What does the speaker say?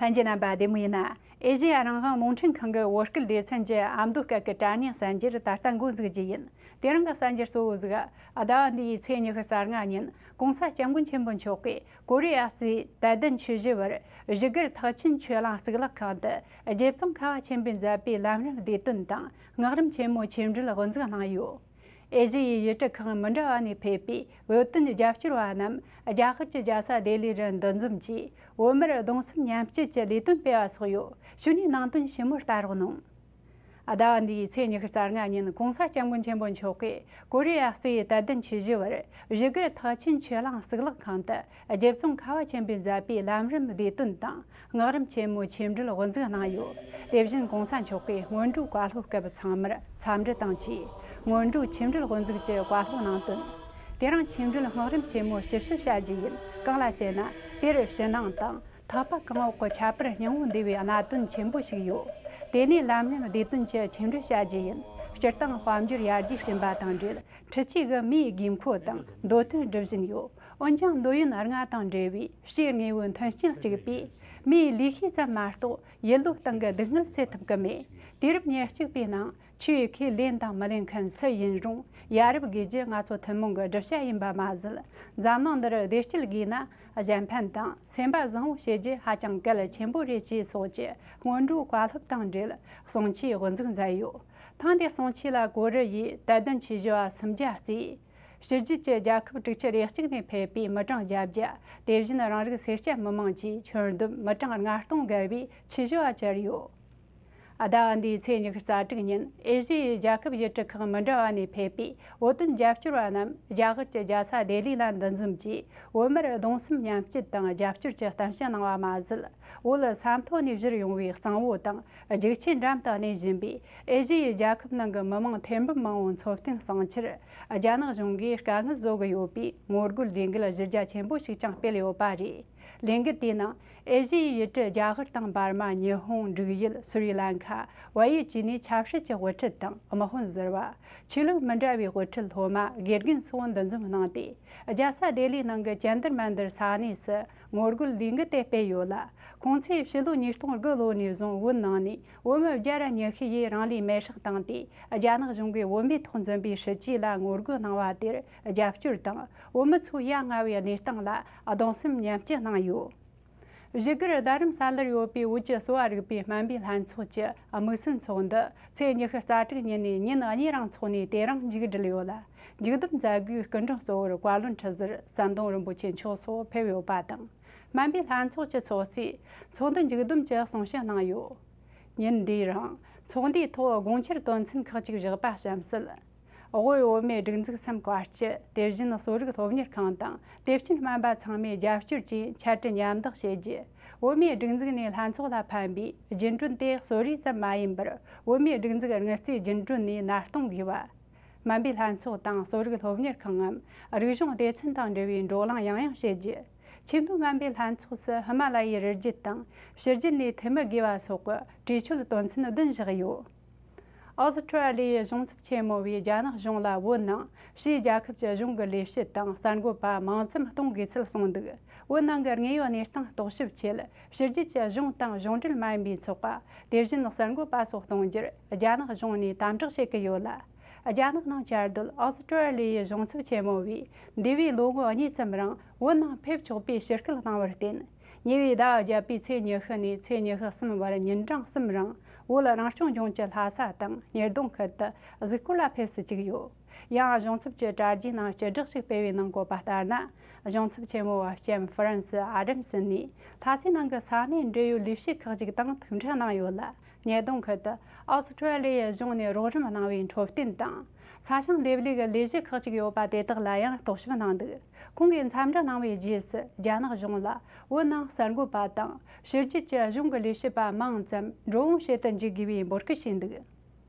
ལྷན་རྒྱས་རྣམ་པ་བདེ་མོ་ཡིན། ཨེ་ཤེ་ཡ་རང་དབང་རྨོངས་འཕྲེང་ཁང་གི་བོད་སྐད་སྡེ་ཚན་གྱི་ཨ་མདོ་སྐད་ཀྱི་དྲ་བརྙན་གསར་འགྱུར་ད་ལྟ་མགོ་འཛུགས་རྒྱུ་ཡིན། དེ་རིང་གི་གསར་འགྱུར་གཙོ་བོ་གཟུགས་ཟླ་བ་འདི་ཡི་ཚེས་ཉི་ཤུ་གསར་ལྔ་ཉིན ྋགོང་ས ྋསྐྱབས་མགོན་ཆེན་པོ་མཆོག་གིས་ཀོ་རི་ཡ་གཙོས་དད་ལྡན་ཆོས་བཞི་བར་བཞུགས་སྒར་ཐག་ཆེན་ཆོས་གླིང་གཙུག་ལག་ཁང་དུ་རྗེ་བཙུན་ཁ་བ་ཆེན་པོའི་མཛད་པའི་ལམ་རིམ་བདེ་དོན་དང་སྔགས་རིམ་ཆེན་མོའི་ཆོས་འབྲེལ་དབུ་འཛུགས་གནང་ཡོད། ཨེ་ཤི་ཡའི་གཞིས་བྲག་ཁག་མི་འདྲ་བ་ནས་ཕེབས་པའི་བོད་དོན་རྒྱབ་སྐྱོར་བ་རྣམས་རྒྱ་གར་གྱི་རྒྱལ་ས་ལྡི་ལིར་འདུ་འཛོམས་ཀྱིས་བོད་མིར་གདུང་སེམས་མཉམ་སྐྱེད་ཀྱི་ལས་དོན་སྤེལ་བ་སོགས་ཡོད་ཞུ་ནས་ནང་དོན་ཞིབ་མོར་ལྟ་རོགས་གནང། ཟླ་བ་འདིའི་ཚེས་ཉི་ཤུ་རྩ་ལྔ་ཉིན ྋགོང་ས ྋསྐྱབས་མགོན་ཆེན་པོ་མཆོག་གིས་ཀོ་རི་ཡ་སི་ཡའི་དད་ལྡན་ཆོས་བཞི་བར་གཞིས་སྒར་ཐག་ཆེན་ཆོས་གླིང་གཙུག་ལག་ཁང་དུ་རྒྱལ་བཙོང་ཁ་བ་ཆེན་པོས་མཛད་པའི་ལམ་རིམ་བདེ་དོན་དང་སྔགས་རིམ་ཆེན་མོའི་ཆོས་འབྲེལ་དབུ་འཛུགས་གནང་ཡོད། དེ་བཞིན་གོང་ས་མཆོག་གིས་སྔོན་འགྲོའི་བཀའ་སློབ་སྐབས་ཚང་མར་འཚམས་འདྲི་དང་བཅས་སྔོན་འགྲོའི་ཆོས་འབྲེལ་དབུ་འཛུགས་ཀྱི་བཀའ་སློབ་གནང་དོན། དེ་རིང་ཆོས་འབྲེལ་སྔགས་རིམ་ཆེན་མོ་སྤྱི་ཞུ་བྱ་རྒྱུ་ཡིན་གང་ལ་བྱས་ན་དེར་ཕྱི་ནང་དང་ཐག་པ་གང་འོག་གི་ཁྱད་པར་སྙིང་བོ་འདུས་པའི་གནད་དོན་ཆེན་པོ་ཞིག་ཡོད། དེ་ནས་ལམ་རིམ་བདེ་དོན་གྱི་ཆོས་འབྲེལ་བྱ་རྒྱུ་ཡིན། སྤྱིར་བཏང་དཔལ་འབྱོར་ཡར་རྒྱས་ཕྱིན་པ་དང་འབྲེལ་ཁྲི་གཅིག་གི་མིའི་དགོས་མཁོ་དང་འདོད་དོན་སྒྲུབ་བཞིན་ཡོད། འོན་ཀྱང་འདོད་ཡོན་ལྔ་དང་འབྲེལ་བའི་ཕྱིའི་དངོས་པོའི་མཐུན་རྐྱེན་གཅིག་པས་མིའི་ལུས་ཤེས་ཙམ་མ་གཏོགས་ཡུལ་ལུགས་སྟེང་གི་སྡུག་བསྔལ་སེལ་ཐུབ་ཀྱི་མེད། དུས་རབས་ཉེར་གཅིག་པའི་ནང་ཆོས་ཁས་ལེན་དང་མི་ལེན་མཁན་སུ་ཡིན་རུང་ཡ་རབས་དགོས་རྒྱུ་ང་ཚོ་ཐུན་མོང་གི་སྒྲུབ་བྱ་ཡིན་པ་མ་ཟད་འཛམ་གླིང་འདིར་བདེ་སྐྱིད་དགོས་ན་གཞན་ཕན་དང་སེམས་པ་བཟང་བོ་བྱེད་རྒྱུ་ཧ་ཅང་གལ་ཆེན་པོ་རེད་ཅེས་སོགས་ཀྱི་སྔོན་འགྲོའི་བཀའ་སློབ་དང་འབྲེལ་གསུང་ཆོས་དབུ་འཛུགས་མཛད་ཡོད། ཐེངས་འདིའི་གསུང་ཆོས་ལ་གོ་རི་ཡིས་དད་ལྡན་ཆོས་བྱེད་བ་སུམ་བརྒྱ་བརྩིས། ཕྱི་རྒྱལ་གྱི་རྒྱལ་ཁབ་དྲུག་ཅུ་རེ་གཅིག་ནས་ཕེབས་པའི་མི་གྲངས་བརྒྱ་བརྒྱ་དེ་བཞིན་རང་རིགས་སེར་སྐྱ་མི་དམངས་ཀྱིས་ཁྱོན་བསྡོམས་མི་གྲངས་ལྔ་སྟོང་བརྒལ་བའི་ཆེ་ཞུ་བ་བསྐྱལ་ཡོད། ཟླ་འདིའི་ཚེས་ཉི་ཤུ་རྩ་དྲུག་ཉིན་ཨེ་ཤི་ཡའི་རྒྱལ་ཁབ་བཞི་བྲི་ཁག་མི་འདྲ་བ་ནས་ཕེབས་པའི་བོད་དོན་རྒྱབ་སྐྱོར་བ་རྣམས་རྒྱ་གར་གྱི་རྒྱལ་ས་ལྡི་ལི་ལ་འདུ་འཛོམས་ཀྱིས་བོད་མིར་གདུང་སེམས་མཉམ་སྐྱེད་དང་རྒྱབ་སྐྱོར་གྱི་གཏམ་བཤད་གནང་བ་མ་ཟད་བོད་ས་མཐོ་ནས་བཞུར་ཡོང་བའི་གཙང་བོ་དང་རྒྱལ་སྤྱིའི་འགྲམ་དུ་གནས་བཞིན་པའི་ཨེ་ཤི་ཡའི་རྒྱལ་ཁབ་ནང་གི་མི་མང་ཐེར་འབུམ་མང་བོའི་འཚོ་རྟེན་བསྲིངས་ཕྱིར་རྒྱ་ནག་གཞུང་གིས་དཀའ་ངལ་བཟོ་གི་ཡོད་པའི་ངོ་རྒོལ་ལས་འགུལ་གཞི་རྒྱ་ཆེན་པོ་ཞིག་ཀྱང་སྤེལ་ཡོད་པ་རེད། ལས་འགུལ་དེའི་ནང་ཨེ་ཤི་ཡའི་ཡུལ་གྲུ་རྒྱ་གར་དང་འབར་མ་ཉི་ཧོང་འབྲུག་ཡུལ་སུ་རི་ལ་མཁར་བལ་ཡུལ་བཅས་ནས་ཆབ་སྲིད་ཀྱི་དབུ་ཁྲིད་དང་དམག་དཔོན་གཟེར་བ། ཆོས་ལུགས་མི་འདྲ་བའི་དབུ་ཁྲིད་སློབ་མ་དགེ་རྒན་སོགས་འདུ་འཛོམས་གནང་སྟེ་རྒྱལ་ས་ལྡི་ལིའི་ནང་གི་ཅན་དར་མན་དར་ས་གནས་སུ་ངོ་རྒོལ་ལས་འགུལ་དེ་སྤེལ་ཡོད་ལ། ཁོང་ཚོས་ཕྱི་ལོ་ཉིས་སྟོང་དགུ་ལོ་ནས་བཟུང་བོད་ནང་ནས་བོད་མི་བརྒྱ་ར་ཉི་ཤུ་ཡིས་རང་ལུས་མེར་བསྲེགས་བཏང་སྟེ་རྒྱ་ནག་གཞུང་གིས་བོད་མིའི་ཐོག་འཛིན་པའི་སྲིད་བྱུས་ལ་ངོ་རྒོལ་གནང་བ་དེར་རྒྱབ་སྐྱོར་དང་བོད་མི་ཚོའི་ཡ་ང་བའི་གནས་སྟངས་ལ་གདུང་སེམས་མཉམ་སྐྱེ་གནང་ཡོད། གཞི་རྒྱུར་རྡ་རམ་ས་ལར་ཡོད་པའི་བོད་ཀྱི་གསོ་བ་རིག་པའི་སྨན་པའི་ལྷན་ཚོགས་ཀྱི་དམིགས་བསལ་ཚོགས་འདུ་ཚེས་ཉི་ཤུ་རྩ་དྲུག་ཉིན་ནས་ཉིན་གཉིས་རིང་འཚོགས་ནས་དེ་རིང་མཇུག་སྒྲིལ་ཡོད་ལ། འཇུག་ལྡོག་མཛད་སྒོའི་སྐུ་མགྲོན་གཙོ་བོར་བཀའ་བློན་ཁྲི་ཟུར་ཟམ་གདོང་རིན་པོ་ཆེ་མཆོག་སོགས་ཕེབས་ཡོད་པ་དང། སྨན་པའི་ལྷན་ཚོགས་ཀྱི་ཚོགས་གཙོས་ཚོགས་འདུ་མཇུག་བསྡོམས་ཀྱི་གསུང་བཤད་གནང་ཡོད། ཉིན་འདིའི་རིང་ཚོགས་འདུའི་ཐོག་དགོངས་འཆར་དོན་ཚན་ཁག་ཅིག་བཞག་པ་གཤམ་གསལ། དབུས་བོད་མིའི་སྒྲིག་འཛུགས་སེམས་དཀར་སྤྱི་དེ་བཞིན་གསོ་རིག་སློབ་གཉེར་ཁང་དང་དེ་བཞིན་སྨན་པ་ཚང་མའི་རྒྱབ་སྐྱོར་བཅས་འཆར་འཕྲིན་མཉམ་བསྡུ་བྱས་རྗེས་བོད་མིའི་སྒྲིག་འཛུགས་ནས་ལྷན་ཚོགས་ལ་ཕན་པའི་རྒྱུན་གྲོན་དེ་གསོ་རིག་ཙམ་མ་ཡིན་པར་བོད་མིའི་སྒྲིག་འཛུགས་དངུལ་རྩའི་རྒྱུན་གྲོན་ནས་མནར་གཏོང་དགོས་པ། སྨན་པའི་ལྷན་ཚོགས་དང་གསོ་རིག་སློབ་གཉེར་ཁང་ངམ་རིག་གཞུང་སྡེ་ཚན་དང་འབྲེལ་བའི་འགྲོ་ལངས་ཡང་ཡང་བྱེད་རྒྱུ། ཆེས་མཐོའི་སྨན་པའི་ལྷན་ཚོགས་སུ་ཧི་མ་ལ་ཡའི་རི་རྒྱུད་དང་ཕྱི་རྒྱུད་ནས་འཐུས་མི་དགོས་པ་སོགས་ཀྱི་གྲོས་ཆོད་དོན་ཚན་བདུན་བཞག་ཡོད། Australia གཞུང་ཚབ་ཆེན་མོ་བས་རྒྱ་ནག་གཞུང་ལ་བོད་ནང་ཕྱིའི་རྒྱལ་ཁབ་ཀྱི་གཞུང་གི་ལས་བྱེད་དང་གསར་འགོད་པ་མང་ཙམ་གཏོང་དགོས་ཚུལ་གསུངས་འདུག་བོད་ནང་གི་དངོས་ཡོད་གནས་སྟངས་རྟོག་ཞིབ་ཆེད་ཕྱི་རྒྱལ་གྱི་གཞུང་དང་གཞུང་འབྲེལ་མ་ཡིན་པའི་ཚོགས་པ། དེ་བཞིན་གསར་འགོད་པ་སོགས་གཏོང་རྒྱུར་རྒྱ་ནག་གཞུང་ནས་དམ་དྲག་བྱེད་ཀྱི་ཡོད་ལ། རྒྱ་ནག་ནང་བསྐྱར་ཟློས་ཨོ་སི་ཀྲོའེ་ལི་ཡའི་གཞུང་ཚབ་ཆེ་མོ་བས་འདས་པའི་ལོ་ངོ་གཉིས་ཙམ་རིང་བོད་ནང་ཕེབས་ཆོག་པའི་ཕྱིར་སྐུལ་གནང་བར་བརྟེན། ཉེ་བའི་ཟླ་བརྒྱད་པའི་ཚེས་ཉི་ཤུ་ནས་ཚེས་ཉི་ཤུ་གསུམ་བར་ཉིན་གྲངས་གསུམ་རིང་བོད་རང་སྐྱོང་ལྗོངས་ཀྱི་ལྷ་ས་དང་ཉེར་སྡོང་ཁུལ་དུ་གཟིགས་སྐོར་ལ་ཕེབས་སུ་བཅུག་ཡོད། ཡང་གཞུང་ཚབ་ཀྱི་དྲ་རྒྱའི་ནང་སྤྱི་བསྒྲགས་ཤིག་སྤེལ་བའི་ནང་བཀོད་པ་ལྟར་ན། གཞུང་ཚབ་ཆེན་མོ་བ་ཀྱེམ་ཧྥི་རན་སི་ཨ་རེམ་སི་ནས་ལྷ་སའི་ནང་གི་ས་གནས་འབྲེལ་ཡོད་ལས་བྱེད་ཁག་ཅིག་དང་ཐུག་འཕྲད་གནང་ཡོད་ལ། ཉེས་རྡུང་ཁུལ་དུ་ཨོ་སི་ཀྲི་ལི་ཡའི་གཞུང་ནས་རོགས་རམ་གནང་བའི་འཕྲོད་བསྟེན་དང། ས་ཞིང་འདེབས་ལས་ཀྱི་ལས་གཞི་ཁག་ཅིག་ཡོད་པ་དེ་དག་ལ་ཡང་རྟོག་ཞིབ་གནང་འདུག་ཁོང་གིས་འཚམས་འདྲི་གནང་བའི་རྗེས་སུ་རྒྱ་ནག་གཞུང་ལ་བོད་ནང་གསར་འགོད་པ་དང་ཕྱི་རྒྱལ་གྱི་གཞུང་གི་ལས་བྱེད་པ་མང་ཙམ་འགྲོ་འོང་བྱེད་དུ་འཇུག་དགོས་པའི་འབོད་སྐུལ་བྱས་འདུག།